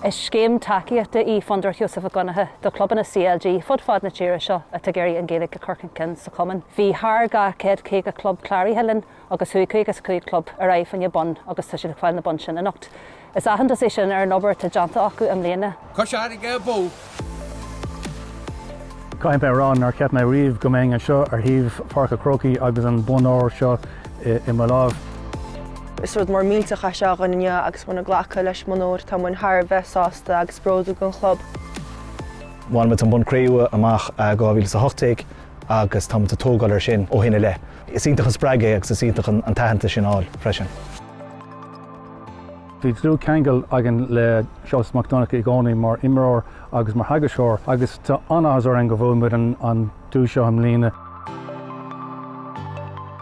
Is scéim tacaíochta í Fondúireacht Sheosaimh Mhic Dhonncha do chlubanna CLG fud fad na tíre seo atá ag iarraidh an Ghaeilge a chur chun cinn sa chumann. Bhí thar 250 club cláraithe linn agus chuaigh 55 club ar aghaidh fá choinne bonn agus tá siad ag fáil na bonn sin anocht. Is aitheantas é sin ar an obair atá déanta acu i mbliana. Cois Fharraige abú. Caithfidh mé a rá nár cheap mé riamh go mbeinn anseo ar thaobh Pháirc a' Chrócaigh agus an bonn óir seo i mo láimh. Is rud mór millteach é seo againn inniu agus muid ag glacadh leis an mbonn óir tá muid thar a bheith sásta agus bródúil den chlub. Bhain muid an bonn cré-umha amach in 2018 agus tá muid ag tógáil air sin ó shin i leith. Is iontach an spreagadh é agus is iontach an t-aitheantas sin a fháil freisin. Bhí dlúthcheangal againn le Seosamh Mac Donncha i gcónaí mar imreoir agus mar theagascóir agus tá an-áthas orainn go bhfuair muid an duais seo i mbliana.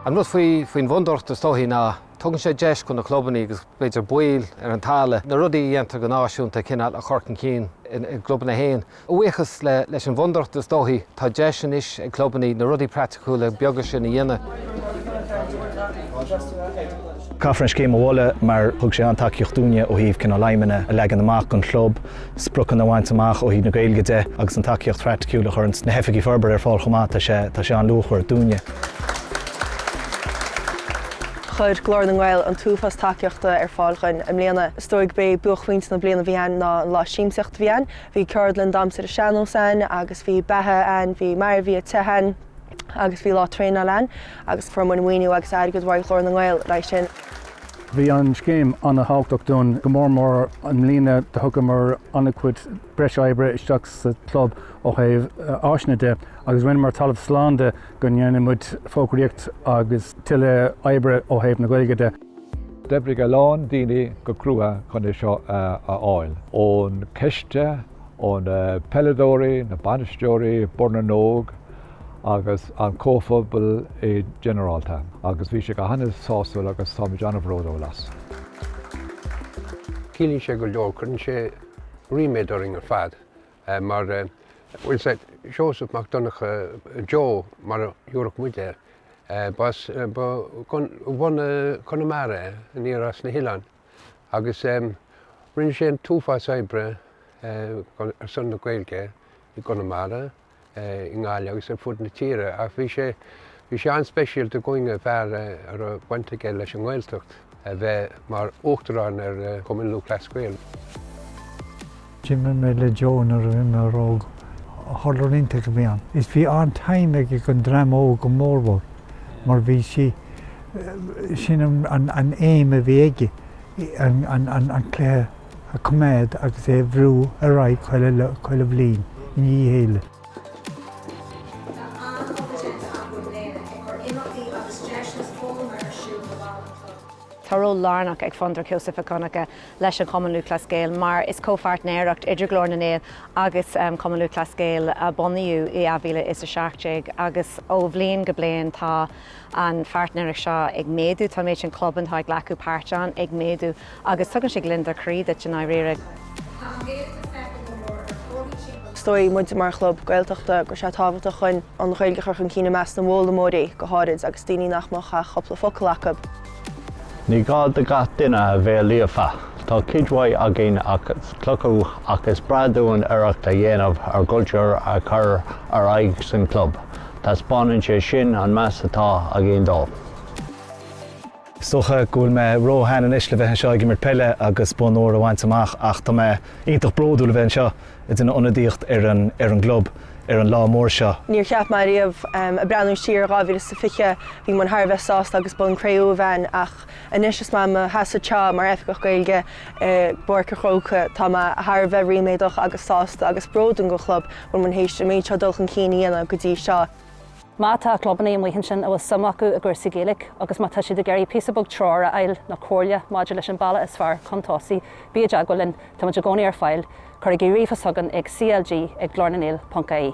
An rud faoin bhFondúireacht is dóichí ná tugann sé deis do na clubannaí agus b'fhéidir baill ar an talamh na rudaí a dhéantar go náisiúnta cineál a chur chun cinn i gclubanna féin. A bhuíochas leis an bhfondúireacht, is dóichí, tá deis anois ag clubanna na rudaí praiticiúla beaga sin a dhéanamh. Caithfear an scéim a mholadh mar thug sé an-tacaíocht dúinne ó thaobh cineál aidhmeanna a leagan amach don chlub, spriocanna a bhaint amach ó thaobh na Gaeilge de agus an tacaíocht phraiticiúil a chuir na hoifigigh forbartha ar fáil chomh maith, tá sé, tá sé an-luachmhar dúinne. Chuir Glór na nGael an t-uafás tacaíochta ar fáil dhúinn i mbliana. Is dóigh gurb é buaicphointe na bliana a bhí ann ná an lá siamsaíochta a bhí ann. Bhí ceardlann damhsa sean-nós ann agus bhí beatha ann, bhí mar a bhí ag tithe ann agus bhí lá traenáil ann agus fuair muid maoiniú agus airgead ó Ghlór na nGael le haghaidh sin. Bhí an scéim an-thábhachtach dúinn, go mór mór i mbliana do thugamar an-chuid breis oibre isteach sa chlub ó thaobh áiseanna de agus rinneamar talamh slán de go ndéanfadh muid fógraíocht agus tuilleadh oibre ó thaobh na Gaeilge de. D'oibrigh a lán daoine go crua chun é seo a fháil. Ón coiste, ó na peileadóirí, na bainisteoirí, Bord na nÓg agus an comhphobal i ginearálta. Agus bhí sé go han-sásúil agus táimid an-bhródúil as. Ciallaíonn sé go leor, cuireann sé ríméad orainn ar fad. mar an bhfuil a fhios agat, Seosamh Mac Donncha, Joe mar a thiúrfadh muid air, b'as bhunadh Chonamara é, aniar as na hoileáin, agus rinne sé an t-uafás oibre ar son na Gaeilge i gConamara, i nGaillimh agus ar fud na tíre ach bhí sé bhí sé an-speisialta againne fear a raibh baint aige leis an nGaeltacht a bheith mar Uachtarán ar Chumann Lúthchleas Gael. D'imir mé le Joe nuair a bhí mé óg, hurler iontach a bhí ann is bhí an-time aige don dream óg go mórmhór mar bhí sí sin an aim a bhí aige, an cluiche a coimeád agus é a bhrú ar aghaidh chuile bhliain i ndiaidh a chéile. Tá ról lárnach ag Fondúireacht Sheosaimh Mhic Dhonncha leis an Chumann Lúthchleas Gael mar is comhpháirtnéireacht idir Glór na nGael agus Cumann Lúthchleas Gael a bunaíodh i 2017 agus ó bhliain go bliain tá an pháirtnéireacht seo ag méadú, tá an méid sin clubanna atá ag glacadh páirt ann ag méadú agus tugann sé gliondar croí duit i ndáiríre. Is dóigh muid mar chlub Gaeltachta go raibh sé tábhachtach dúinn an Ghaeilge a chur chun cinn i measc na bhfoghlaimeoirí go háirid agus daoine nach mbeadh ach cúpla focal acu. Ní gá do gach duine a bheith líofa. Tá cuid mhaith againn as cleachtadh ach is breá dúinn iarracht a dhéanamh ár gcultúr a chur ar aghaidh san club. Taispeánann sé sin an meas atá againn dó. Is dócha go bhfuil mé ró-shean anois le bheith anseo ag imirt peile agus bonn óir a bhaint amach ach tá mé iontach bródúil a bheith anseo ag déanamh ionadaíocht ar an ar an gclub ar an lá mór seo. Níor cheap mé riamh ag breathnú siar ar 2020, bhí muid thar a bheith sásta agus bonn cré-umha a bhaint ach anois is mé i mo sheasamh anseo mar Oifigeach Gaeilge i bPáirc a' Chrócaigh, tá mé thar a bheith ríméadach agus sásta agus bródúil don chlub go bhfuil muid théis an méid seo dul chun cinn a dhéanamh go dtí seo. Má tá clubannaí amuigh ansin a bhfuil suim acu i gcúrsaí Gaeilge agus má tá siad ag iarraidh píosa beag treoir a fháil nó comhairle maidir leis an bealach is fearr chun tosaigh, bí i dteagmháil linn, táimid i gcónaí ar fáil, cuirigí ríomhphost chugainn ag CLG ag glornangael.ie.